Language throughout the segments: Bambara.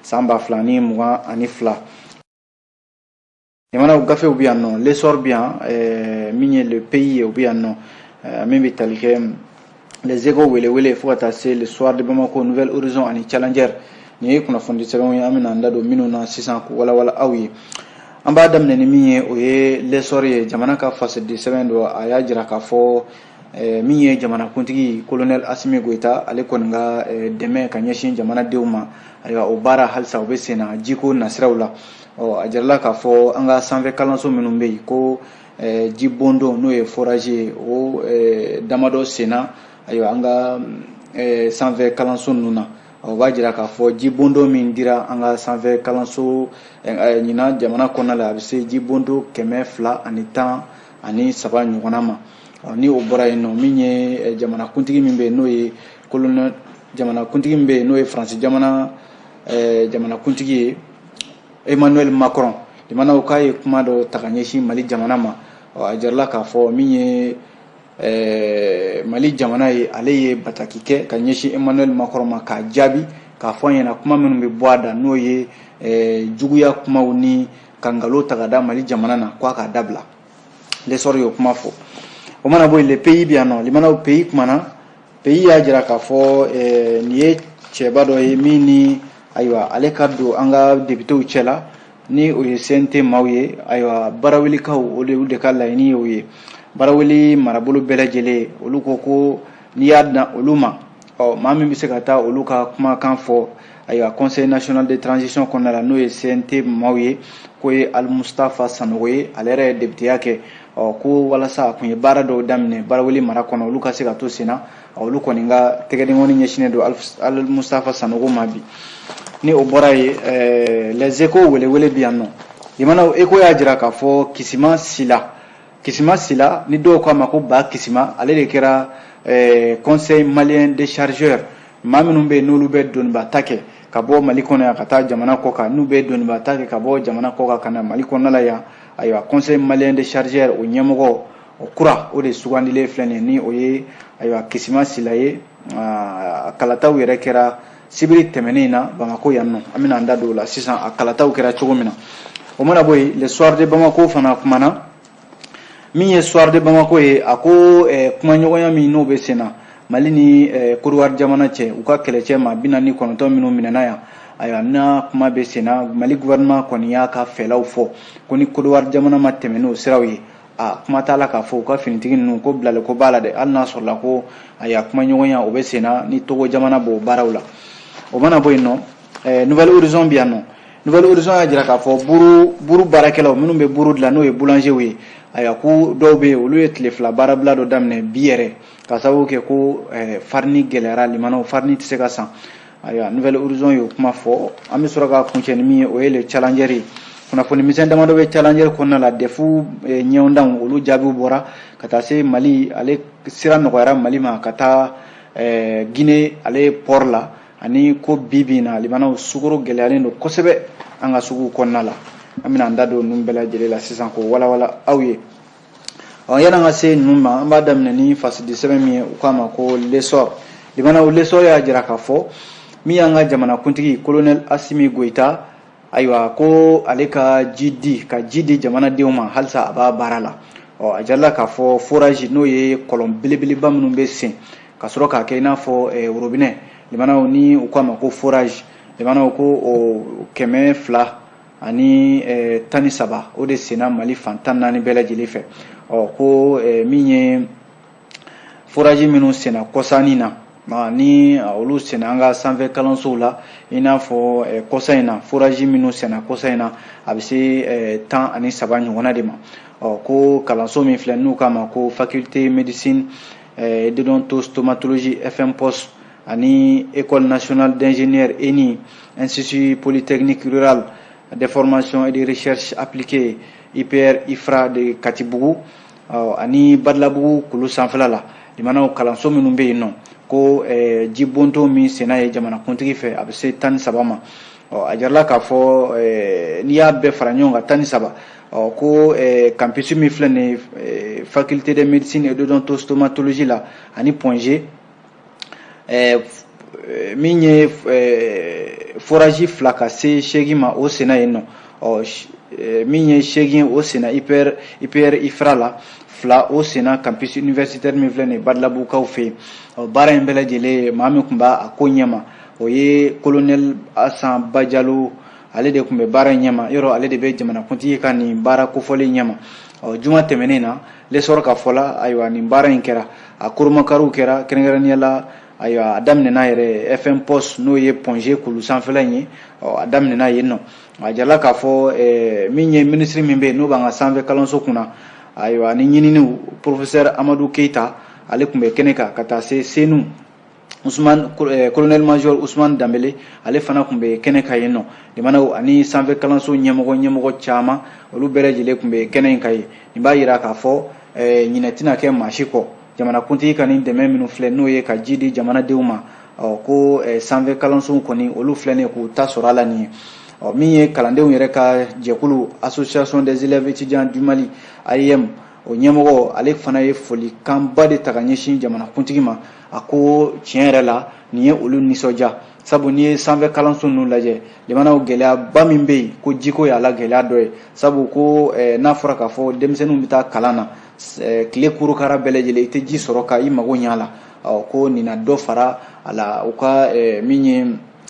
san ba fila ni mugan ani fila jamanaw gafew bɛ yan nɔ l'essor bɛ yan eh, min ye le pays ye o bɛ yan nɔ eh, min bɛ tali kɛ les échos welewele fo ka taa se le soir de bamako nouvel horizon ani challenger nin ye kunnafonidisɛbɛnw ye an bɛna an da don minnu na sisan k'u walawala aw ye an b'a daminɛ ni min ye o ye l'essor ye jamana ka fasidisɛbɛn don a y'a jira k'a fɔ Eh, min ye jamanakuntigi kolonɛl asimi goyita ale kɔni ka eh, dɛmɛ ka ɲɛsin jamanadenw ma ayiwa o baara halisa o bɛ senna jiko nasiraw la a jirala k'a fɔ an ka sanfɛ kalanso minnu bɛ yen ko eh, ji bondon n'o ye forage ye o damadɔ senna ayiwa an ka sanfɛ kalanso ninnu na o b'a jira k'a fɔ ji bondon min dira an ka sanfɛ kalanso ɲinan jamana kɔnɔna la a bɛ se ji bondon kɛmɛ fila ani tan ani saba ɲɔgɔnna ma ni o bɔra yen nɔ min ye eh, jamanakuntigi min bɛ yen n'o ye kolonɛ jamanakuntigi min bɛ yen n'o ye faransi jamana eh, jamanakuntigi ye emmanuel macron lamɛnnaw k'a ye kuma dɔ ta ka ɲɛsin mali jamana ma a jirala k'a fɔ min ye eh, mali jamana ye ale ye bataki kɛ ka ɲɛsin emmanuel macron ma k'a jaabi k'a fɔ an ɲɛna kuma minnu bɛ bɔ a da n'o ye juguya kumaw ni ka nkalon ta ka da mali jamana na k'a k'a dabila l'essor y'o kuma fɔ o mana bɔ yen le pays bɛ yan nɔ lamɛnnaw pays kumana pays y'a jira k'a fɔ eh, nin ye cɛba dɔ ye min ni ayiwa ale ka don an ka depitew cɛla ni o ye cnt maaw ye ayiwa barawelikaw o de olu de ka laɲini ye o ye baraweli marabolo bɛɛ lajɛlen olu ko ko n'i y'a dan olu ma ɔ maa min bɛ se ka taa olu ka kumakan fɔ ayiwa conseil national de transition kɔnɔna la n'o ye cnt maaw ye k'o ye alimustafa sanogo ye ale yɛrɛ ye depiteya kɛ ɔ ko walasa a kun ye baara dɔw daminɛ baraweli mara kɔnɔ olu ka se ka to sen na olu kɔni ka tɛgɛdenkɔni ɲɛsinnen don alimustafa sanogo ma bi ni o bɔra yen eh, les échos welewele bi yan nɔ lamɛnnaw échos y'a jira k'a fɔ kisima sila kisima sila ni dɔw k'a ma ko ba kisima ale de kɛra eh, conseil malien des chargeurs maa minnu bɛ yen n'olu bɛ doniba ta kɛ ka bɔ mali kɔnɔ yan ka taa jamana kɔkan n'u bɛ doniba ta kɛ ka bɔ jamana kɔkan ka na mali kɔnɔna la yan ayiwa conseil malien des chargeurs o ɲɛmɔgɔ o kura o de sugandilen filɛ nin ye ni o ye ayiwa kisima sila ye ah, kalataw yɛrɛ kɛra sibiri tɛmɛnen in na bamako yan nɔ an bɛna an da don o la sisan a kalataw kɛra cogo min na o mana bɔ yen le soir de bamako fana kumana min ye soir de bamako ye a ko eh, kumaɲɔgɔnya min n'o bɛ sen na mali ni eh, kɔdiwari jamana cɛ u ka kɛlɛcɛ maa bi naani kɔnɔntɔn minnu minɛna yan ayiwa n'a kuma bɛ sen na mali gouvernement kɔni y'a ka fɛlaw fɔ ko ni kɔdiwari jamana ma tɛmɛ n'o siraw ye a kuma t'a la k'a fɔ u ka finitigi ninnu ko bilali ko b'a la dɛ hali n'a sɔrɔla ko ayiwa kumaɲɔgɔnya o bɛ senna ni togo jamana b'o baaraw la o mana bɔ yen nɔ eh, nouvel horizon bɛ yan nɔ nouvel horizon y'a jira k'a fɔ buru buru baarakɛlaw minnu bɛ buru dilan n'o ye boulangerw ye ayiwa ko dɔw bɛ yen olu ye tile fila baarabila dɔ daminɛ bi yɛrɛ ka sababu kɛ ko eh, farini gɛlɛyara limanaw farini tɛ se ka san ayiwa nouvel horizon y'o kuma fɔ an bɛ sɔrɔ ka kuncɛ ni min ye o ye le challenger ye kunnafoni misɛn damadɔ bɛ challenger kɔnɔna la dɛfu eh, ɲɔgɔndanw olu jaabiw bɔra ka taa se mali ale sira nɔgɔyara mali ma ka taa eh, guinee ale port la ani ko bi bi in na limanaw sukaro gɛlɛyalen don kosɛbɛ an ka suguw kɔnɔna la an bɛna an da don ninnu bɛɛ lajɛlen la sisan k'o walawala aw ye ɔ yan'an ka se ninnu ma an b'a daminɛ ni fasidi sɛbɛn min ye u k'a ma ko l'essor limanaw l'essor y'a jira k'a fɔ min y'an ka jamanakuntigi kolonɛli asimi goyita ayiwa ko ale ka ji di ka ji di jamanadenw ma halisa a b'a baara la ɔ a jirala k'a fɔ foraji n'o ye kɔlɔn belebeleba minnu bɛ sen ka sɔrɔ k'a kɛ i n'a fɔ eh, worobinɛ limanaw ni u k'a ma ko foraji limanaw ko o kɛmɛ fila ani eh, tan ni saba o de senna mali fan tan naani bɛɛ lajɛlen fɛ ɔ ko eh, min ye foraji minnu senna kɔsa in na ma ni ah, olu senna an ka sanfɛ kalansow la i n'a fɔ eh, kɔsa in na foraji minnu senna kɔsa in na a bɛ se eh, tan ani saba ɲɔgɔnna de ma ɔ ko kalanso min filɛ n'u k'a ma ko faculté médecine et d'odontostomatologie fmpos ani école nationale d'ingénieurs ENI institut polytechnique rural de formation et de recherche appliquée IPR IFRA de Katibugu ɔ ani Badalabugu kulu sanfɛla la limanaw kalanso minnu bɛ yen nɔ ko eh, ji bonto min senna yen jamanakuntigi fɛ a bɛ se tan ni saba ma ɔ a jirala k'a fɔ eh, n'i y'a bɛɛ fara ɲɔgɔn kan tan ni saba ɔ ko eh, campus min filɛ nin ye eh, faculté de médecine et d'odontostomatologie la ani point g eh, min ye eh, foraji fila ka se seegin ma o senna yen nɔ ɔ eh, min ye seegin o senna ipr ipr ifra la fila o senna campus universitaire min filɛ nin ye badalabugukaw fɛ yen ɔ baara in bɛɛ lajɛlen maa min tun b'a ko ɲɛma o ye colonel asan bajalo ale de tun bɛ baara in ɲɛma yɔrɔ ale de bɛ jamanakuntigi ka nin baara kofɔlen ɲɛma ɔ juma tɛmɛnen na l'essor ka fɔ la ayiwa nin baara in kɛra a kurunbonkariw kɛra kɛrɛnkɛrɛnnenya la ayiwa a daminɛna yɛrɛ fmpos n'o ye point g kulu sanfɛla in ye a daminɛna yen nɔ a jirala k'a fɔ eh, min ye minisiri min bɛ yen n'o b'an ka sanfɛ kalanso kunna ayiwa ani ɲininiw professeur amadu keyita ale tun bɛ kɛnɛ kan ka taa se senu colonel major eh, usman danbele ale fana tun bɛ kɛnɛ kan yen nɔ limanaw ani sanfɛ kalanso ɲɛmɔgɔ ɲɛmɔgɔ caman olu bɛɛ lajɛlen tun bɛ kɛnɛ in kan yen nin b'a jira k'a fɔ eh, ɲinɛ tɛna kɛ maa si kɔ jamanakuntigi ka nin dɛmɛ minnu filɛ n'o ye ka ji di jamanadenw ma ko eh, sanfɛ kalansow kɔni olu filɛ nin ye k'u ta sɔrɔ a la nin ye min ye kalandenw yɛrɛ ka jɛkulu association des élèves étudiants du mali aeem o ɲɛmɔgɔ ale fana ye folikanba de ta ka ɲɛsin jamanakuntigi ma a ko tiɲɛ yɛrɛ la nin ye olu nisɔndiya sabu n'i ye sanfɛ kalanso ninnu lajɛ limanaw gɛlɛyaba min bɛ yen ko jiko y'a la gɛlɛya dɔ ye sabu ko eh, n'a fɔra k'a fɔ denmisɛnninw bɛ taa kalan na eh, tile kurukara bɛɛ lajɛlen i tɛ ji sɔrɔ ka i mago ɲɛ a la ko nin na dɔ fara a la u ka eh, min ye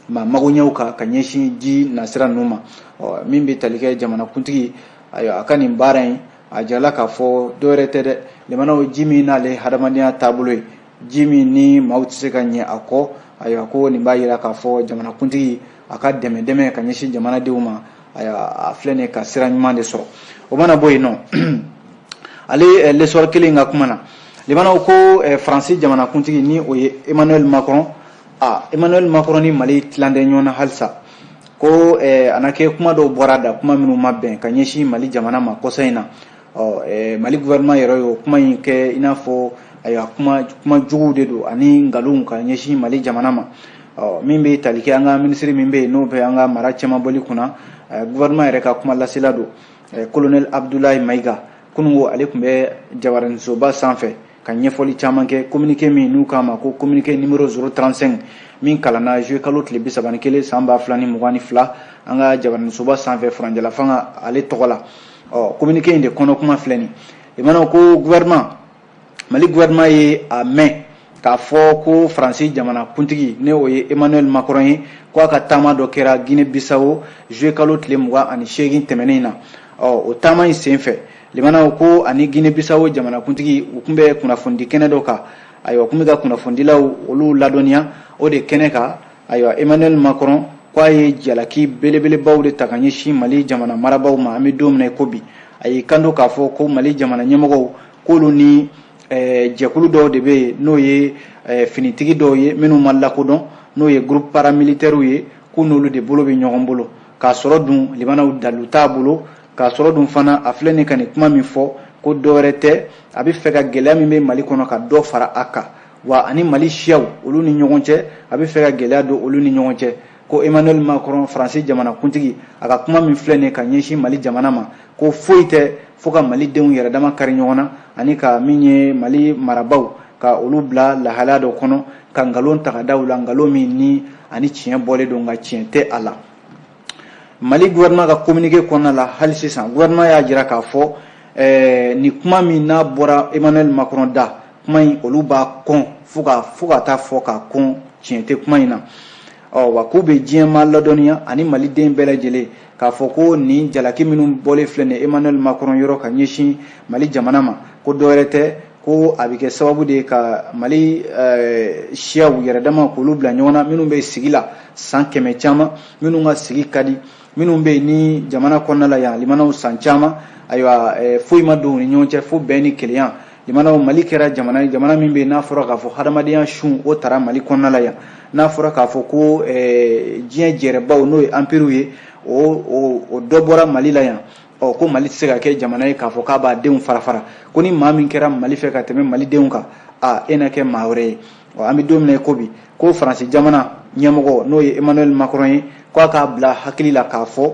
ma magoɲɛw kan ka ɲɛsin ji nasira ninnu ma min bɛ tali kɛ jamanakuntigi ayiwa a ka nin baara in a jirala k'a fɔ dɔwɛrɛ tɛ dɛ limanaw ji min n'ale hadamadenya taabolo ye ji min ni maaw tɛ se ka ɲɛ a kɔ ayiwa ko nin b'a jira k'a fɔ jamanakuntigi a ka dɛmɛ dɛmɛ ka ɲɛsin jamanadenw ma ayiwa a filɛ nin ka sira ɲuman de sɔrɔ o mana bɔ yen nɔ ale eh, l'essor kelen ka kuma na limanaw ko eh, faransi jamanakuntigi ni o ye emmanuel macron a emmanuel macron ni mali tilalen tɛ ɲɔgɔn na halisa ko a na kɛ kuma dɔw bɔra a da kuma minnu ma bɛn ka ɲɛsin mali jamana ma kɔsa in na ɔ mali gouvernement yɛrɛ ye o kuma in kɛ i n'a fɔ ayiwa kuma juguw de don ani nkalonw ka ɲɛsin mali jamana ma ɔ min bɛ tali kɛ an ka minisiri min bɛ yen n'o bɛ an ka mara cɛmanbɔli kunna gouvernement yɛrɛ ka kuma lasela don colonel abdoulaye maïga kunun ko ale tun bɛ jabaraninsoba sanfɛ ka ɲɛfɔli caman kɛ communiqué min n'u k'a ma ko communiqué numéro 035 min kalanna juillet kalo tile bi saba ni kelen san ba fila ni mugan ni fila an ka jabaraninsoba sanfɛ furancɛlafanga ale tɔgɔ la ɔ communiqué in de kɔnɔ kuma filɛ nin limanaw ko gouvernement mali gouvernement ye a mɛn k'a fɔ ko faransi jamana kuntigi ni o ye emmanuel macron ye ko a ka taama dɔ kɛra guinée bissau juillet kalo tile mugan ani seegin tɛmɛnen na ɔ o taama in senfɛ limanaw ko ani guinee bissau jamanakuntigi u tun bɛ kunnafonidi kɛnɛ dɔ kan ayiwa kun bɛ ka kunnafonidilaw olu ladɔnniya o de kɛnɛ kan ayiwa emmanuel macron ko a ye jalaki belebelebaw de ta ka ɲɛsin mali jamana marabaw ma an bɛ don min na i ko bi a y'i kanto k'a fɔ ko mali jamana ɲɛmɔgɔw k'olu ni eh, jɛkulu dɔw de bɛ yen n'o ye eh, finitigi dɔw ye minnu ma lakodɔn n'o ye groupe paramilitaires ye k'u n'olu de bolo bɛ ɲɔgɔn bolo k'a sɔrɔ dun limanaw dalu t'a bolo k'a sɔrɔ dun fana a filɛ nin ka nin kuma min fɔ ko dɔwɛrɛ tɛ a bɛ fɛ ka gɛlɛya min bɛ mali kɔnɔ ka dɔ fara a kan wa ani mali siyaw olu ni ɲɔgɔn cɛ a bɛ fɛ ka gɛlɛya don olu ni ɲɔgɔn cɛ ko emmanuel macron faransi jamana kuntigi a ka kuma min filɛ nin ka ɲɛsin mali jamana ma ko foyi tɛ fo ka mali denw yɛrɛ dama kari ɲɔgɔn na ani ka min ye mali marabaw ka olu bila lahalaya dɔ kɔnɔ ka nkalon ta ka da u la nkalon min ni ani tiɲɛ bɔlen don nka tiɲɛ tɛ a la Mali gouvernement ka kominike kɔnɔna la hali sisan gouvernement y'a jira k'a fɔ nin kuma min n'a bɔra emmanuel macron da kuma in olu b'a kɔn fo fo ka taa fɔ k'a kɔn tiɲɛ tɛ kuma in na ɔ wa k'u bɛ diɲɛmaa ladɔniya ani maliden bɛɛ lajɛlen k'a fɔ ko nin jalaki minnu bɔlen filɛ nin emmanuel macron yɔrɔ ka ɲɛsin mali jamana ma ko dɔwɛrɛ tɛ ko a bɛ kɛ sababu de ye ka mali siyaw yɛrɛ dama k'olu bila ɲɔgɔn na minnu bɛ sigi la san kɛmɛ caman minnu ka sigi ka di minnu bɛ yen nin jamana kɔnɔna la yan limanaw san caman ayiwa eh, foyi ma don u ni ɲɔgɔn cɛ fo bɛn ni kelenya limanaw mali kɛra jamana ye jamana min bɛ yen n'a fɔra k'a fɔ hadamadenya sun o tara mali kɔnɔna la yan n'a fɔra k'a fɔ ko eh, diɲɛ jɛrɛbaw n'o ye anpiriw ye o o dɔ bɔra mali la yan ɔ ko mali tɛ se ka kɛ jamana ye k'a fɔ k'a b'a denw fara fara ko ni maa min kɛra mali fɛ ka tɛmɛ malidenw kan a e na kɛ maa wɛrɛ ye ɔ an bɛ don min na i ko bi ko faransi jamana ɲɛmɔgɔ n'o ye emmanuel macron ye k'a k'a bila hakili la k'a fɔ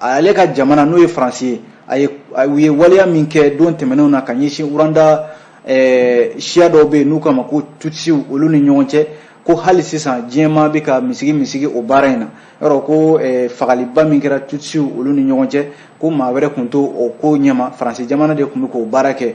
ale ka jamana n'o ye faransi ye a ye u ye waleya min kɛ don tɛmɛnenw na ka ɲɛsin rwanda siya dɔw bɛ yen n'u k'a ma ko tutisiw olu ni ɲɔgɔn cɛ ko hali sisan diɲɛmaa bɛ ka misigi misigi o baara in na yɔrɔ ko fagaliba min kɛra tutisiw olu ni ɲɔgɔn cɛ ko maa wɛrɛ tun t'o ko ɲɛma faransi jamana de tun bɛ k'o baara kɛ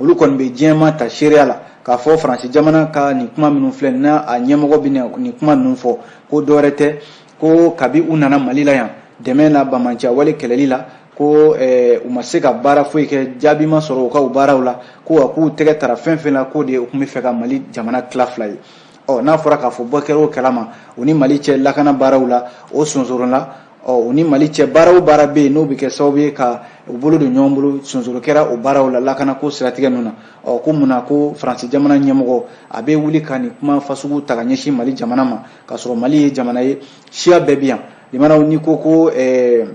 olu kɔni bɛ diɲɛmaa ta seereya la k'a fɔ faransi jamana ka nin kuma minnu filɛ n'a a ɲɛmɔgɔ bɛ nin kuma ninnu fɔ ko dɔwɛrɛ tɛ ko kabi u nana mali la yan dɛmɛ na banbaanciya wale kɛlɛli la ko eh, u ma se ka baara foyi kɛ jaabi ma sɔrɔ u ka u baaraw la ko wa k'u tɛgɛ tara fɛn fɛn la k'o de ye u tun bɛ fɛ ka mali jamana tila fila ye ɔ n'a fɔra k'a fɔ bɔ kɛra o kalama u ni mali cɛ lakana baaraw la o sonsorola ɔ u ni mali cɛ baara o baara bɛ yen n'o bɛ kɛ sababu ye ka u bolo don ɲɔgɔn bolo sonsoro kɛra o baaraw la lakana ko siratigɛ ninnu na ɔ ko mun na ko faransi jamana ɲɛmɔgɔ a bɛ wuli ka nin kuma fasugu ta ka ɲɛsin mali jamana ma k'a sɔrɔ mali ye jamana ye siya bɛɛ bɛ yan limanaw n'i ko ko ɛɛ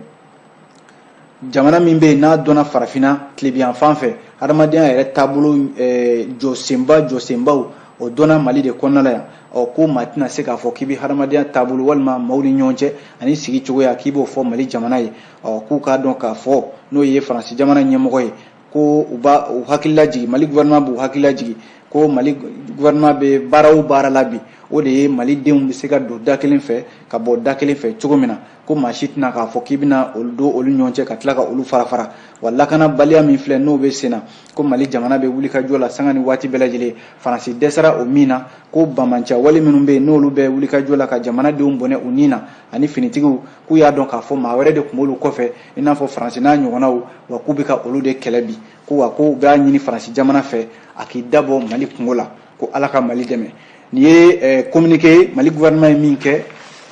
jamana min bɛ yen n'a dɔnna farafinna tilebiyan fan fɛ hadamadenya yɛrɛ taabolo eh, jɔsenba jɔsenbaw o dɔnna mali de kɔnɔna la yan ɔ ko maa tɛna se k'a fɔ k'i bɛ hadamadenya taabolo walima maaw ni ɲɔgɔn cɛ ani sigi cogoya k'i b'o fɔ mali jamana ye ɔ k'u k'a dɔn k'a fɔ n'o ye faransi jamana ɲɛmɔgɔ ye ko u b'a u hakili lajigi mali gouvernement b'u hakili lajigi ko mali gouvernement bɛ baara o baara la bi o de ye mali denw bɛ se ka don da kelen fɛ ka bɔ da kelen fɛ cogo min na ko maa si tɛna k'a fɔ k'i bɛna olu don olu ɲɔgɔn cɛ ka tila ka olu fara fara wa lakanabaliya min filɛ n'o bɛ senna ko mali jamana bɛ wulikajɔ la sanga ni waati bɛɛ lajɛlen faransi dɛsɛra o min na ko banbaanciya wale minnu bɛ yen n'olu bɛ wulikajɔ la ka jamanadenw bɔnɛ u ni na ani finitigiw k'u y'a dɔn k'a fɔ maa wɛrɛ de tun b'olu kɔfɛ i n'a fɔ faransi n'a ɲɔgɔnnaw wa k'u bɛ ka olu de kɛlɛ bi ko wa ko u b'a ɲini faransi jamana fɛ a k'i dabɔ mali kunko la ko ala ka mali dɛmɛ nin ye kominike eh, ye mali gouvernement ye min kɛ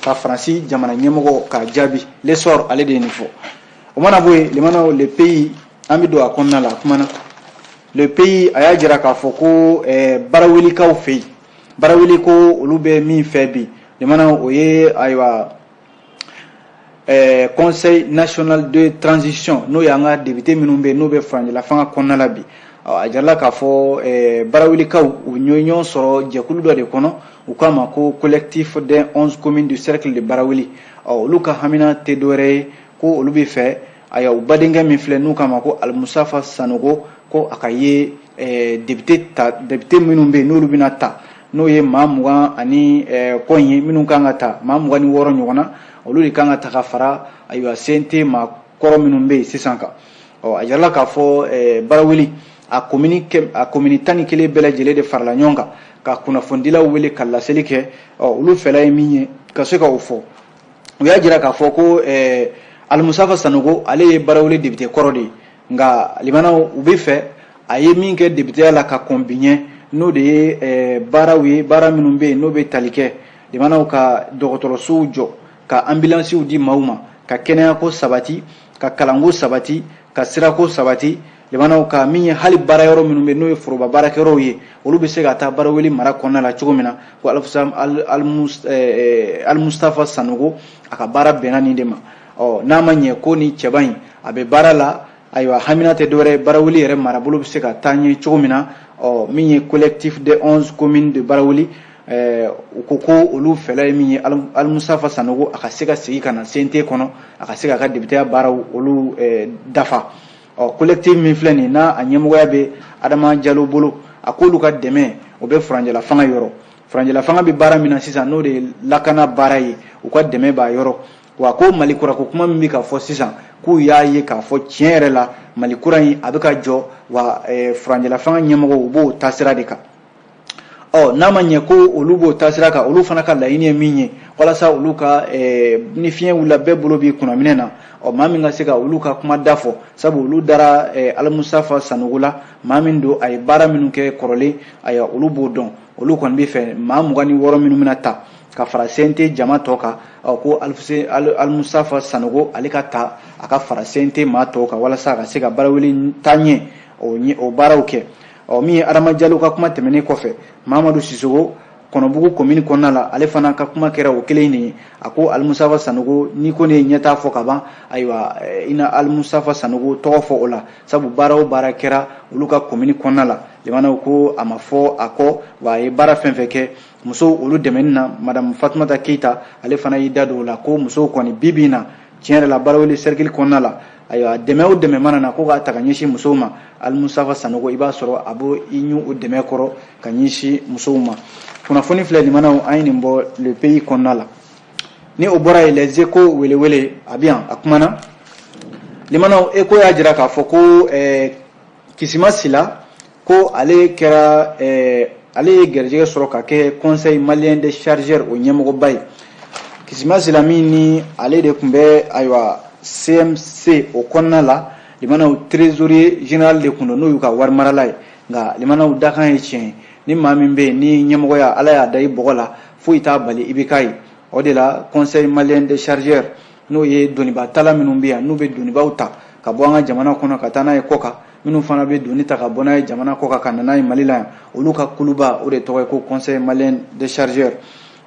ka faransi jamana ɲɛmɔgɔ k'a jaabi l'essor ale de ye nin fɔ o mana bɔ yen limanaw le pays an bɛ don a kɔnɔna la a kumana le pays a y'a jira k'a fɔ ko eh, barawelikaw fɛ yen baraweli ko olu bɛ min fɛ bi limanaw o ye ayiwa Eh, conseil national de transition n'o y'an ka depite minnu bɛ n'o bɛ furancɛlafanga kɔnɔna la bi a jirala k'a fɔ eh, barawelikaw u ɲɔgɔn sɔrɔ jɛkulu dɔ de kɔnɔ u k'a ma ko collectif des 11 communes du cercle de baraweli olu ka hamina tɛ dɔwɛrɛ ye ko olu bɛ fɛ ayiwa u badenkɛ min filɛ n'u k'a ma ko alimustafa sanogo ko a ka ye eh, depite minnu bɛ yen n'olu bɛna ta n'o ye maa mugan ani kɔ ye minnu kan ka ta maa mugan ni wɔɔrɔ ɲɔgɔn na olu de kan ka ta ka fara ayiwa CNT maa kɔrɔ minnu bɛ yen sisan kan ɔ a jirala k'a fɔ baraweli a komini a komini tan ni kelen bɛɛ lajɛlen de farala ɲɔgɔn kan ka kunnafonidilaw wele ka laseli kɛ ɔ olu fɛla ye min ye ka se ka o fɔ u y'a jira k'a fɔ ko alimustafa sanogo ale ye baraweli depite kɔrɔ de ye nka limanaw u bɛ fɛ a ye min kɛ depiteya la ka kɔn bi ɲɛ n'o de ye eh, baaraw ye baara minnu bɛ yen n'o bɛ tali kɛ limanaw ka dɔgɔtɔrɔsow jɔ ka anbilansiw di maaw ma ka kɛnɛyako sabati ka kalanko sabati ka sirako sabati limanaw ka min ye hali baara yɔrɔ minnu bɛ n'o ye foroba baarakɛyɔrɔw ye olu bɛ se ka taa baraweli mara kɔnɔna la cogo min na ko alimustafa eh, eh, sanogo a ka baara bɛnna nin de ma ɔ n'a ma ɲɛ ko ni cɛba in a bɛ baara la ayiwa hamina tɛ dɔwɛrɛ baraweli yɛrɛ marabolo bɛ se ka taa ɲɛ cogo min na ɔ min ye collectif des 11 communes de baraweli Eh, u ko ko olu fɛla ye min ye alimustafa sanogo a ka se ka segin ka na CNT kɔnɔ a ka se k'a ka depiteya baaraw olu eh, dafa ɔ collectif min filɛ nin n'a a ɲɛmɔgɔya bɛ adama jalo bolo a k'olu ka dɛmɛ o bɛ furancɛla fanga yɔrɔ furancɛla fanga bɛ baara min na sisan n'o de ye lakana baara ye u ka dɛmɛ b'a yɔrɔ wa ko mali kura ko kuma min bɛ ka fɔ sisan k'u y'a ye k'a fɔ tiɲɛ yɛrɛ la mali kura in a bɛ ka jɔ wa eh, furancɛlafanga ɲɛmɔgɔ u b'o taasira de kan ɔ n'a ma ɲɛ ko olu b'o taasira kan olu fana ka laɲini ye min ye walasa olu ka eh, ni fiɲɛ wulila bɛɛ bolo b'i kunnaminɛ na ɔ maa min ka se ka olu ka kuma da fɔ sabu olu dara eh, alimusafa sanogo la maa min don a ye baara minnu kɛ kɔrɔlen ayiwa olu b'o dɔn olu kɔni bɛ fɛ maa mugan ni wɔɔrɔ minnu bɛna ta ka fara cnt jama tɔ kan ko alimusafa sanogo ale ka ta a ka fara cnt maa tɔw kan walasa a ka se ka barawuli taa ɲɛ o baaraw kɛ ɔ min ye adama jalo ka kuma tɛmɛnen kɔfɛ mamadu sisoko kɔnɔbugu komini kɔnɔna la ale fana ka kuma kɛra o kelen de ye a ko alimusafa sanogo n'i kɔni ye ɲɛtaa fɔ ka ban ayiwa eh, i na alimusafa sanogo tɔgɔ fɔ o la sabu baara o baara kɛra olu ka komini kɔnɔna la limanaw ko a ma fɔ a kɔ wa a ye baara fɛn fɛn kɛ musow olu dɛmɛni na madamu fatumata keyita ale fana y'i da don o la ko musow kɔni bi bi in na tiɲɛ yɛrɛ la barawuli sɛrikili kɔnɔna la ayiwa dɛmɛ o dɛmɛ mana na ko k'a ta ka ɲɛsin musow ma alimusafa sanogo i b'a sɔrɔ a b'o i ɲu o dɛmɛ kɔrɔ ka ɲɛsin musow ma kunnafoni filɛ limanaw an ye nin bɔ le pays kɔnɔna la ni o bɔra yen les échos welewele a bɛ yan a kumana limanaw échos y'a jira k'a fɔ ko ɛɛ eh, kisima sila ko ale kɛra eh, ale ye garijɛgɛ sɔrɔ ka kɛ conseil malien des chargeurs o ɲɛmɔgɔba ye kisima sila min ni ale de tun bɛ ayiwa cmc o kɔnɔna la limanaw trésorier général de tun don n'o y'u ka warimarala ye nka limanaw dakan ye tiɲɛ ye ni maa min bɛ yen ni ɲɛmɔgɔya ala y'a da i bɔgɔ la foyi t'a bali i bɛ k'a ye o de la conseil malien des chargeurs n'o ye doniba tala minnu bɛ yan n'u bɛ donibaw ta ka bɔ an ka jamana kɔnɔ ka taa n'a ye kɔkan minnu fana bɛ doni ta ka bɔ n'a ye jamana kɔkan ka na n'a ye mali la yan olu ka kuluba o de tɔgɔ ye ko conseil malien des chargeurs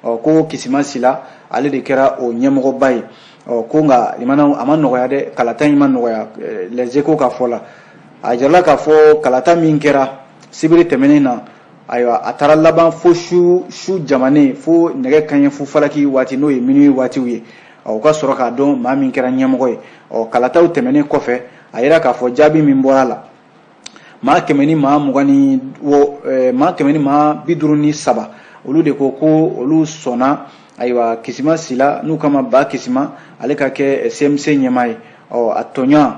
ɔ ko kisima sila ale de kɛra o ɲɛmɔgɔba ye ɔ ko nka limanaw a ma nɔgɔya dɛ kalata in ma nɔgɔya les échos ka fɔ la a jirala k'a fɔ kalata min kɛra sibiri tɛmɛnen na ayiwa a taara laban fo su jamanen fo nɛgɛ kanɲɛ fu falaki waati n'o ye minuit waatiw ye u ka sɔrɔ k'a dɔn maa min kɛra ɲɛmɔgɔ ye ɔ kalataw tɛmɛnen kɔfɛ a yira k'a fɔ jaabi min bɔra a la maa kɛmɛ ni maa mugan ni wɔ maa kɛmɛ ni maa bi duuru ni saba olu de ko ko olu sɔnna ayiwa kisima sila n'u k'a ma bakisima ale ka kɛ cmc ɲɛmaa ye ɔ a tɔɲɔgɔn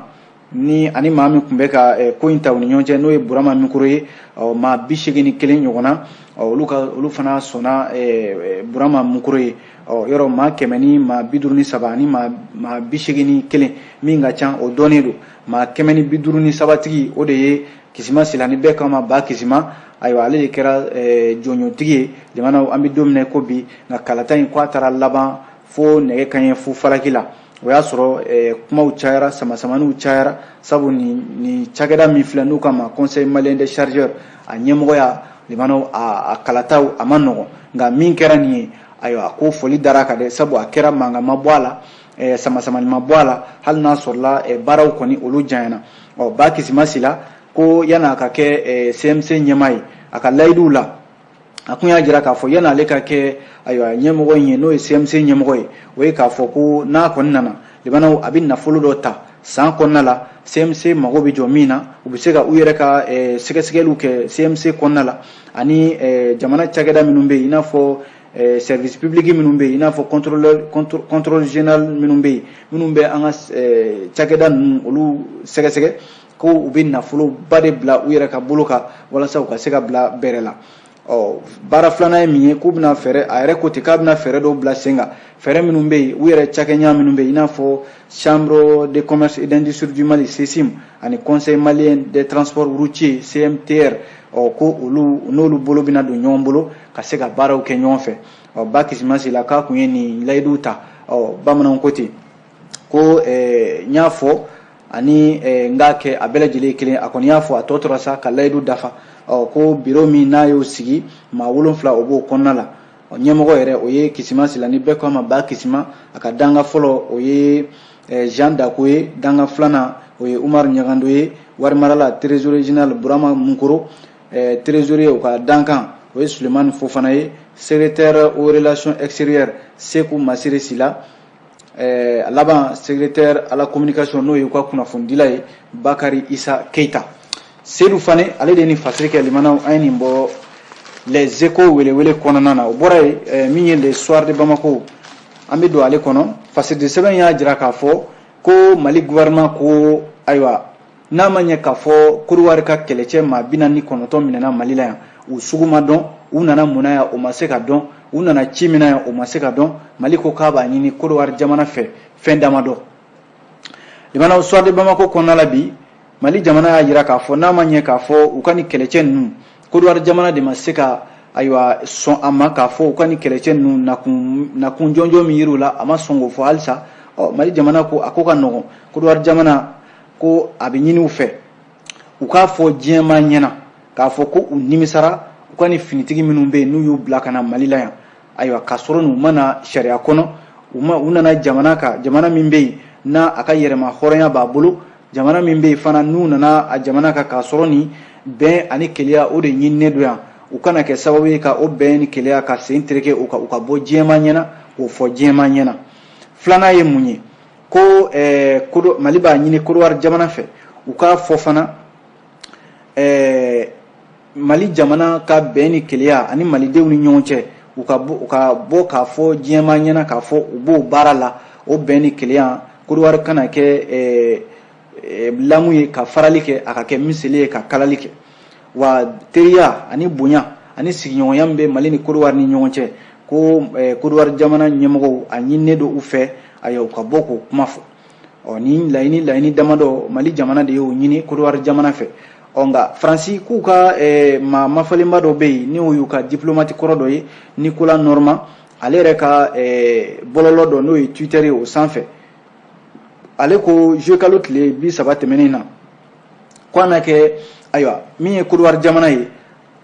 ni ani maa min tun bɛ ka eh, ko in ta u ni ɲɔgɔn cɛ n'o ye burama mikoro ye maa bi seegin ni kelen ɲɔgɔn na olu ka olu fana sɔnna eh, eh, burama mikoro ye yɔrɔ maa kɛmɛ ni maa bi duuru ni saba ani maa bi seegin ni kelen min ka ca o dɔnnen don maa kɛmɛ ni bi duuru ni sabatigi o de ye kisima sila ni bɛɛ k'a ma bakisima ayiwa ale de kɛra jɔnjɔntigi ye limanaw an bɛ don min na ko bi nka kalata in ko a taara laban fo nɛgɛ kaɲɛ fo falaki la o y'a sɔrɔ eh, kumaw cayara samasamaniw cayara sabu ni cakɛda min filɛ n'u k'a ma conseil malien des chargeurs a ɲɛmɔgɔya limanaw a kalataw a man nɔgɔn nka min kɛra nin ye ayiwa ko foli dara a kan dɛ sabu a kɛra mankan ma bɔ a la eh, samasamani ma bɔ a la hali n'a sɔrɔla eh, baaraw kɔni olu janyana ɔ ba kisima sila ko yan'a ka kɛ cmc ɲɛmaa ye a ka layiduw la a kun y'a jira k'a fɔ yanni ale ka kɛ ayiwa ɲɛmɔgɔ in ye n'o ye CMC ɲɛmɔgɔ ye o ye k'a fɔ ko n'a kɔni nana limanaw a bɛ nafolo dɔ ta san kɔnɔna la CMC mago bɛ jɔ min na u bɛ se ka u yɛrɛ ka eh, sɛgɛsɛgɛliw kɛ CMC kɔnɔna la ani eh, jamana cakɛda minnu bɛ yen i n'a fɔ eh, service public minnu bɛ yen i n'a fɔ contrôleur contr- contrôle général minnu bɛ yen minnu bɛ an ka eh, cakɛda ninnu olu sɛgɛsɛgɛ ko u bɛ nafoloba de bila u yɛrɛ ka bolo kan walasa u ka se ka bila bɛrɛ la ɔ baara filanan ye min ye k'u bɛna fɛɛrɛ a yɛrɛ ko ten k'a bɛna fɛɛrɛ dɔw bila sen kan fɛɛrɛ minnu bɛ yen u yɛrɛ cakɛɲa minnu bɛ yen i n'a fɔ chambre de commerce et d'industrie du mali ccim ani conseil malien des transports routiers cmtr ɔ ko olu n'olu bolo bɛna don ɲɔgɔn bolo ka se ka baaraw kɛ ɲɔgɔn fɛ ɔ ba kisima sila k'a kun ye nin layiduw ta ɔ bamananw ko ten ko eh, n y'a fɔ ani eh, n k'a kɛ a bɛɛ lajɛlen kelen a kɔni y'a fɔ a tɔ tora sa ka layidu dafa ko biro min n'a y'o sigi maa wolonfila o b'o kɔnɔna la ɲɛmɔgɔ yɛrɛ o ye kisima sila ni bɛɛ ko a ma ba kisima a ka dankan fɔlɔ o ye eh, jean dako ye dankan filanan o ye umar ɲagando ye warimarala trésorier général burama munkoro trésorier o ka dankan o ye sulemani fofana ye secrétaire aux relations extérieures seku masire sila Eh, a laban secrétaire à la communication n'o ye u ka kunnafonidila ye bakari isa keita sedu fane ale de ye nin fasiri kɛ limanaw an ye nin bɔ les échos welewele kɔnɔna na o bɔra ye eh, min ye le soir de bamako an bɛ don ale kɔnɔ fasiridi sɛbɛn y'a jira k'a fɔ ko mali gouvernement ko ayiwa n'a ma ɲɛ k'a fɔ koriwari ka kɛlɛcɛ maa bi naani ni kɔnɔntɔn minɛna mali la yan u sugu ma dɔn u nana mun na yan o ma se ka dɔn u nana ci min na yan o ma se ka dɔn mali ko k'a b'a ɲini koriwari jamana fɛ fɛn dama dɔ limanaw soir de bamako kɔnɔna la bi mali jamana y'a jira k'a fɔ n'a ma ɲɛ k'a fɔ u ka nin kɛlɛcɛ ninnu koriwari jamana de ma se ka ayiwa sɔn a ma k'a fɔ u ka nin kɛlɛcɛ ninnu nakun nakun jɔnjɔn min yir'u la a ma sɔn k'o fɔ halisa ɔ mali jamana ko a ko ka nɔgɔn koriwari jamana ko a bɛ ɲini u fɛ u k'a fɔ diɲɛmaa ɲɛna k'a fɔ ko u nimisara u ka nin finitigi minnu bɛ yen n'u y'u bila ka na mali la yan ayiwa k'a sɔrɔ n'u ma na sariya kɔnɔ u ma u nana jamana kan jamana min bɛ yen n'a a ka yɛrɛma hɔrɔnya b'a bolo jamana min bɛ yen fana n'u nana a jamana kan k'a sɔrɔ nin bɛn ani keleya o de ɲininen don yan u kana kɛ sababu ye ka o bɛn ni keleya ka sen tereke u ka u ka bɔ diɲɛmaa ɲɛna k'o fɔ diɲɛmaa ɲɛna filanan ye mun ye ko eh, kodo mali b'a ɲini kodowari jamana fɛ u k'a fɔ fana eh, mali jamana ka bɛn ni keleya ani malidenw ni ɲɔgɔn cɛ u ka bɔ ka bɔ k'a fɔ diɲɛmaa ɲɛna k'a fɔ u b'o baara la o bɛn ni keleya kodowari kana kɛ eh, lamu ye ka farali kɛ a ka kɛ miseli ye ka kalali kɛ wa teriya ani bonya ani sigiɲɔgɔnya min bɛ mali ni kodowari ni ɲɔgɔn cɛ ko kodowari jamana ɲɛmɔgɔw a ɲininen don u fɛ ayiwa u ka bɔ k'o kuma fɔ ɔ nin laɲini laɲini damadɔ mali jamana de y'o ɲini kodowari jamana fɛ ɔ nka faransi k'u ka maa mafalenba dɔ bɛ yen n'o y'u ka diplomati kɔrɔ dɔ ye nikola nɔrɔman ale yɛrɛ ka bɔlɔlɔ dɔ n'o ye twitter ye o sanfɛ ale ko juillet kalo tile bi saba tɛmɛnen na ko a na kɛ ayiwa min ye kodowari jamana ye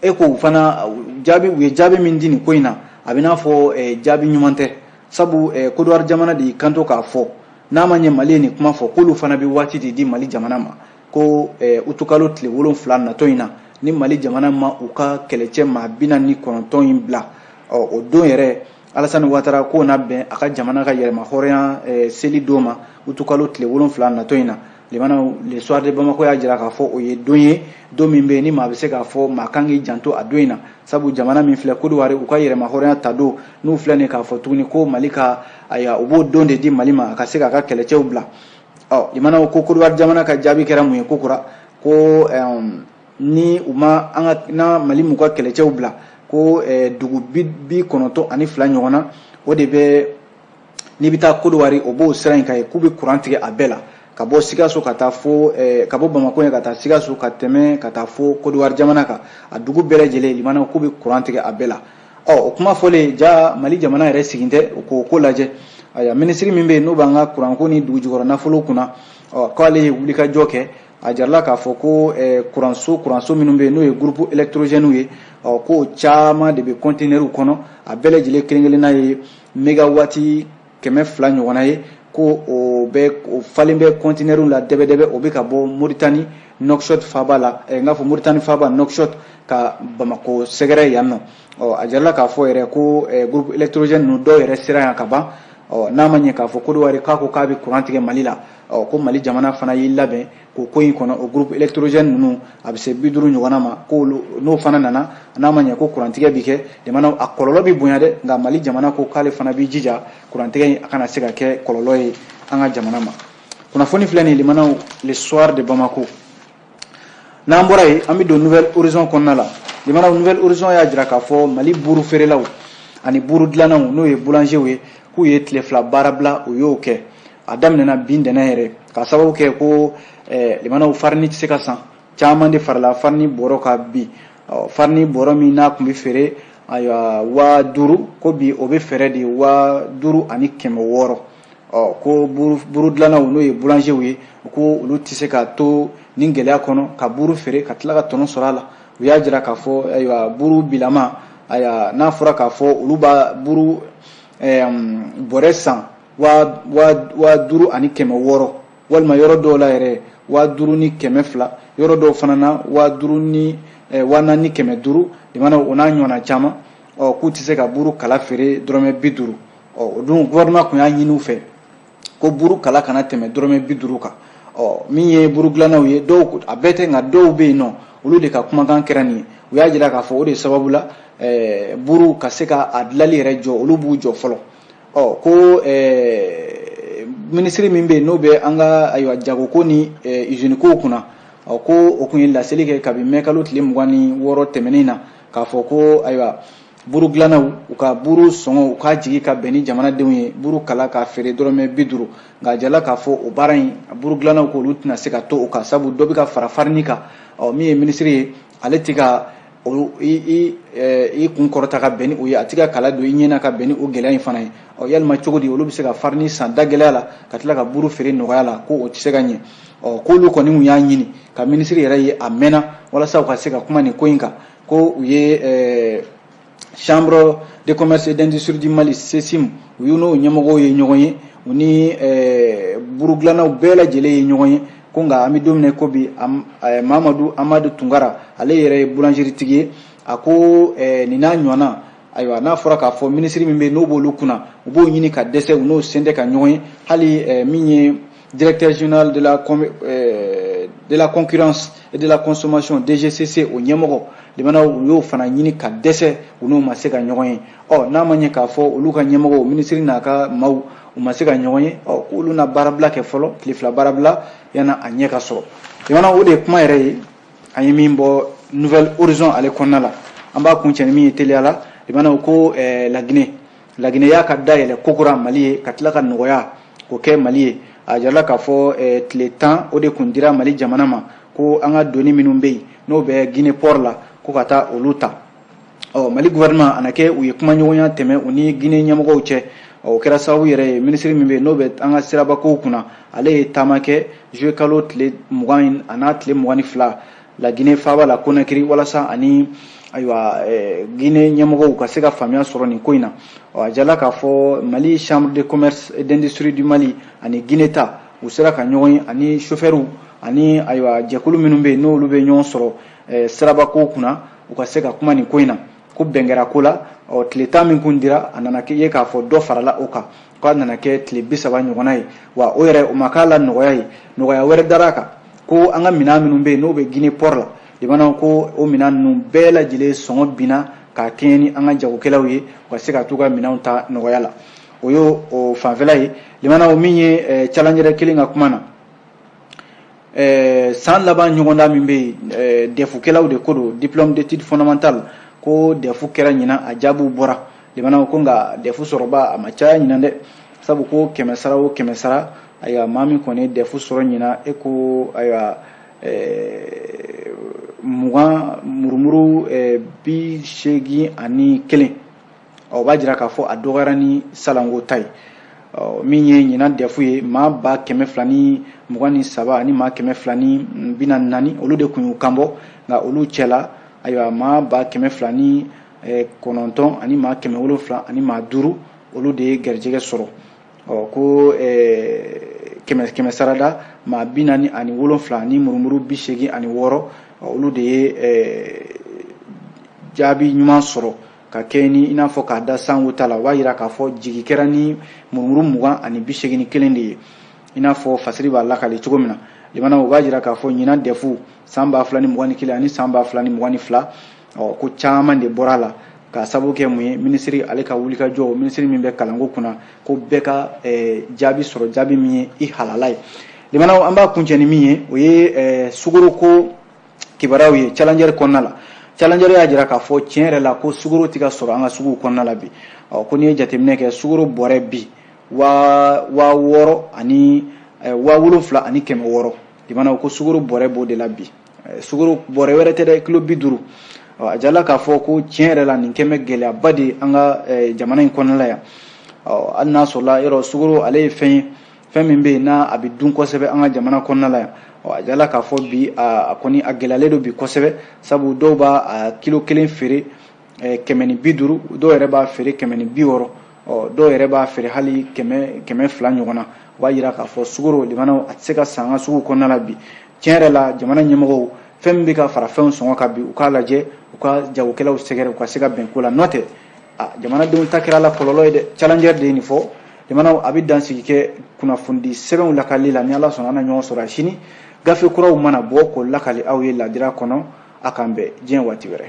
e ko u fana jaabi u ye jaabi min di nin ko in na a bɛ n'a fɔ eh, jaabi ɲuman tɛ sabu eh, kodowari jamana de y'i kanto k'a fɔ n'a ma ɲɛ mali ye nin kuma fɔ k'olu fana bɛ waati de di mali jamana ma ko eh, utukalo tile wolonfila natɔ in na ni mali jamana ma u ka kɛlɛcɛ maa bi naani ni kɔnɔntɔn in bila ɔ o don yɛrɛ alasani watara k'o na bɛn a ka jamana ka yɛrɛma hɔrɔnya eh, seli don ma utukalo tile wolonfila natɔ in na limanaw le soir de bamako y'a jira k'a fɔ o ye don ye don min bɛ ni maa bɛ se k'a fɔ maa kan k'i janto a don in na sabu jamana min filɛ kodowari u ka yɛrɛma hɔrɔnya ta don n'u filɛ nin k'a fɔ tuguni ko mali ka ayiwa u b'o don de di mali ma a ka se k'a ka kɛlɛcɛw bila ɔ limanaw ko kodowari jamana ka jaabi kɛra mun ye kokura ko eh, ni u ma an ka ni mali m'u ka kɛlɛcɛw bila ko eh, dugu bi bi kɔnɔntɔn ani fila ɲɔgɔnna o de bɛ n'i bɛ taa kodowari o b'o sira in kan ye k'u bɛ kuran tigɛ a bɛɛ la ka bɔ sikaso ka taa fo eh, ka bɔ bamakɔ yan ka taa sikaso ka tɛmɛ ka taa fo kodowari jamana kan a dugu bɛɛ lajɛlen limana k'u bɛ kuran tigɛ a bɛɛ la ɔ o kuma fɔlen ja mali jamana yɛrɛ sigin tɛ k'o ko lajɛ ayiwa minisiri min bɛ yen n'o b'an ka kuranko ni dugujukɔrɔ nafolo kunna ɔ k'ale ye wulikajɔ kɛ a jarala k'a fɔ ko eh, kuranso kuranso minnu bɛ yen n'o ye gurupu elektorogɛniw ye ɔ k'o caman de bɛ kɔntinɛriw kɔnɔ a bɛɛ lajɛlen kelen kelenna ye megawati kɛmɛ fila ɲɔgɔnna ye ko o bɛ o falen bɛ kɔntinɛriw la dɛbɛdɛbɛ o bɛ ka bɔ moritani nɔkishɔt faaba la eh, n k'a fɔ moritani faaba nɔkishɔt ka bamako sɛgɛrɛ yan nɔ ɔ a jarala k'a fɔ yɛrɛ ko eh, gurupu elektorogɛni ninnu dɔw yɛrɛ sera yan ka ban ɔ n'a ma ɲɛ k'a fɔ kodowari k'a ko k'a bɛ kuran tigɛ mali la ɔ ko mali jamana fana y'i labɛn k'o ko in kɔnɔ o groupe électrogène ninnu a bɛ se bi duuru ɲɔgɔnna ma k'olu n'o fana nana n'a ma ɲɛ ko kurantigɛ bi kɛ jamana a kɔlɔlɔ bi bonya dɛ nka mali jamana ko k'ale fana b'i jija kurantigɛ in a kana se ka kɛ kɔlɔlɔ ye an ka jamana ma kunnafoni filɛ nin limanaw le soir de bamako n'an bɔra yen an bɛ don nouvel horizon kɔnɔna la limanaw nouvel horizon y'a jira k'a fɔ mali buuru feerelaw ani buuru dilannaw n'o ye boulangerw ye k'u ye tile fila baarabila u y'o kɛ a daminɛna bi ntɛnɛn yɛrɛ ka sababu kɛ ko eh, limanaw farini tɛ se ka san caman de farala farini bɔrɔ kan bi farini bɔrɔ min n'a tun bɛ feere ayiwa waa duuru ko bi o bɛ feere de waa duuru ani kɛmɛ wɔɔrɔ ɔ ko buru dilannaw n'o ye bulanzew ye ko olu tɛ se ka to nin gɛlɛya kɔnɔ ka buru feere ka tila ka tɔnɔ sɔrɔ a la u y'a jira k'a fɔ ayiwa buru bilama ayiwa n'a fɔra k'a fɔ olu b'a buru bɔrɛ san waa duuru ani kɛmɛ wɔɔrɔ walima yɔrɔ dɔw la yɛrɛ waa duuru ni kɛmɛ fila yɔrɔ dɔw fana na waa duuru ni eh, waa naani ni kɛmɛ duuru limanaw o n'a ɲɔgɔnna caman ɔ k'u tɛ se ka buru kala feere dɔrɔmɛ bi duuru ɔ o dun gɔvɛrɛnman tun y'a ɲini u fɛ ko buru kala kana tɛmɛ dɔrɔmɛ bi duuru kan ɔ min ye buru dilannaw ye dɔw a bɛɛ tɛ nka dɔw bɛ yen ɔ olu de ka kumakan kɛra nin ye u y'a jira k'a fɔ o de sababu la eh, buru ka se ka a dilali yɛrɛ jɔ olu b'u jɔ fɔlɔ ɔ ko ɛɛ minisiri min bɛ yen n'o bɛ an ka ayiwa jagoko ni ɛɛ izini kow kunna ɔ ko o tun ye laseli kɛ kabini mɛkalo tile mugan ni wɔɔrɔ tɛmɛnen na k'a fɔ ko ayiwa buru dilannaw u ka buru sɔngɔ u k'a jigi ka bɛn ni jamanadenw ye buru kala k'a feere dɔrɔmɛ bi duuru nka a jirala k'a fɔ o baara in buru dilannaw k'olu tɛna se ka to o kan sabu dɔ bɛ ka fara farini kan ɔ min ye minisiri ye ale tɛ ka i kun kɔrɔta ka bɛn ni o ye a tɛ ka kala don i ɲɛ na ka bɛn ni o gɛlɛya in fana ye ɔ yalima cogo di olu bɛ se ka farini san da gɛlɛya la ka tila ka buru feere nɔgɔya la ko o tɛ se ka ɲɛ ɔ k'olu kɔni tun y'a ɲini ka minisiri yɛrɛ ye a mɛnna walasa u ka se ka kuma nin ko in kan ko u ye chambre de commerce et d'industrie du mali CCIM u y'u n'o ɲɛmɔgɔw ye ɲɔgɔn ye u ni eh, burudilannaw bɛɛ lajɛlen ye ɲɔgɔn ye ko nka an bɛ don min na i ko bi eh, mamadu amadu tunkara ale yɛrɛ ye boulangeritigi ye a ko eh, nin n'a ɲɔgɔnna ayiwa n'a fɔra k'a fɔ minisiri min bɛ yen n'o b'olu kunna u b'o ɲini ka dɛsɛ u n'o sen tɛ ka ɲɔgɔn ye hali min ye Directeur général de la, euh, de la concurrence et de la consommation DGCC o ɲɛmɔgɔ limanaw u y'o fana ɲini ka dɛsɛ u n'o ma se ka ɲɔgɔn ye ɔ n'a ma ɲɛ k'a fɔ olu ka ɲɛmɔgɔw minisiri n'a ka maaw u ma se ka ɲɔgɔn ye ɔ k'olu na baarabila kɛ fɔlɔ tile fila baarabila yanni a ɲɛ ka sɔrɔ limanaw o de ye kuma yɛrɛ ye an ye min bɔ nouvel horizon ale kɔnɔna la an b'a kuncɛ ni min ye teliya la limanaw ko eh, la guinée laginɛ y'a ka da yɛlɛ kokura mali ye ka tila ka nɔgɔya ko kɛ mali ye a jirala k'a fɔ eh, tile tan o de kun dira mali jamana ma ko an ka doni minnu bɛ yen n'o bɛ guinee port la ko ka taa olu ta ɔ mali gouvernement a na kɛ u ye kumaɲɔgɔnya tɛmɛ u ni guinee ɲɛmɔgɔw cɛ ɔ o kɛra sababu yɛrɛ ye minisiri min bɛ yen n'o bɛ an ka sirabakow kunna ale ye taama kɛ juillet kalo tile mugan in a n'a tile mugan ni fila la Guinee faaba la Conakry walasa a ni ayiwa eh, Guinee ɲɛmɔgɔw ka se ka faamuya sɔrɔ nin ko in na ɔ a jala k'a fɔ Mali chambre de commerce et d'industrie du Mali ani Guinee ta u sera ka ɲɔgɔn ye ani chauffeurs ani ayiwa jɛkulu minnu bɛ yen n'olu bɛ ɲɔgɔn sɔrɔ eh, sirabakow kunna u ka se ka kuma nin ko in na ko bɛn kɛra ko la ɔ tile tan min kun dira a nana ye k'a fɔ dɔ farala o kan k'a nana kɛ tile bi saba ɲɔgɔnna ye wa o yɛrɛ o ma k'a la nɔgɔya ye nɔgɔya wɛrɛ dara a kan ko an ka minɛn minnu bɛ yen n'o bɛ gine pɔri la limana ko o minɛn ninnu bɛɛ lajɛlen sɔngɔ binna k'a kɛɲɛ ni an ka jagokɛlaw ye u ka se ka t'u ka minɛnw ta nɔgɔya la o y'o fanfɛla ye limana min ye eh, challenger kelen ka kuma na eh, san laban ɲɔgɔndan min bɛ yen eh, dɛfukɛlaw de ko don diplôme d'étude fondamentale ko dɛfu kɛra ɲinan a jaabiw bɔra limana ko nka dɛfu sɔrɔbaa ma caya ɲinan dɛ sabu ko kɛmɛ sara o kɛmɛ sara ayiwa maa min kɔni ye dɛfu sɔrɔ ɲinan e ko ayiwa eh, mugan murumuru bi seegin ani kelen o b'a jira k'a fɔ a dɔgɔyara ni salon ko ta ye min ye ɲinan dɛfu ye maa ba kɛmɛ fila ni mugan ni saba ani maa kɛmɛ fila ni bi naani ni naani olu de kun y'u kanbɔ nka olu cɛla ayiwa maa ba kɛmɛ fila ni eh, kɔnɔntɔn ani maa kɛmɛ wolonfila ani maa duuru olu de ye garijɛgɛ sɔrɔ ɔ ko eh, kɛmɛ kɛmɛ sarada maa bi naani ani wolonfila ni murumuru bi seegin ani wɔɔrɔ olu de ye eh, jaabi ɲuman sɔrɔ ka kɛ ni i n'a fɔ k'a da sanko ta la o b'a jira k'a fɔ jigin kɛra ni murumuru mugan ani bi seegin ni kelen de ye i n'a fɔ fasiri b'a lakali cogo min na limana o b'a jira k'a fɔ ɲinan dɛfu san ba fila ni mugan ni kelen ani san ba fila ni mugan ni fila ɔ ko caman de bɔra a la k'a sabu kɛ mun ye minisiri ale ka wulikajɔ minisiri min bɛ kalanko kunna ko bɛɛ ka eh, jaabi sɔrɔ jaabi min ye i halala ye limana an b'a kuncɛ ni min ye o ye eh, sukaroko kibaruyaw ye challenger kɔnɔna la challenger y'a jira k'a fɔ tiɲɛ yɛrɛ la ko sukaro tɛ ka sɔrɔ an ka suguw kɔnɔna la bi ko n'i ye jateminɛ kɛ sukaro bɔrɛ bi waa waa wɔɔrɔ ani eh, waa wolonfila ani kɛmɛ wɔɔrɔ limana ko sukaro bɔrɛ b'o de la bi eh, sukaro bɔrɛ wɛrɛ tɛ dɛ kilo bi duuru a jala k'a fɔ ko tiɲɛ yɛrɛ la nin kɛlen bɛ gɛlɛyaba de an ka eh, jamana in kɔnɔna la yan hali n'a sɔrɔla yɔrɔ sukaro ale ye fɛn ye fɛn min bɛ yen n'a a bɛ dun kosɛbɛ an ka jamana kɔnɔna la yan ɔ a jirala k'a fɔ bi a kɔni a gɛlɛyalen don bi kosɛbɛ sabu dɔw b'a a kilo kelen feere kɛmɛ ni bi duuru dɔw yɛrɛ b'a feere kɛmɛ ni bi wɔɔrɔ ɔ dɔw yɛrɛ b'a feere hali kɛmɛ kɛmɛ fila ɲɔgɔn na o b'a yira k'a fɔ sukaro limanaw a tɛ se ka san an ka sugu kɔnɔna la bi tiɲɛ yɛrɛ la jamana ɲɛmɔgɔw fɛn min bɛ ka fara fɛnw sɔngɔ kan bi u k'a lajɛ u ka jagokɛlaw sɛgɛrɛ u ka se ka bɛn ko la n'o tɛ ah jamanadenw ta kɛra a la kɔlɔlɔ ye dɛ challenger de ye nin fɔ jamanaw an bɛ dansigi kɛ kunnafoni sɛbɛnw lakali la ni ala sɔnna an na ɲɔgɔn sɔrɔ a sini gafe kuraw mana bɔ k'o lakali aw ye ladira kɔnɔ a k'an bɛn diɲɛ waati wɛrɛ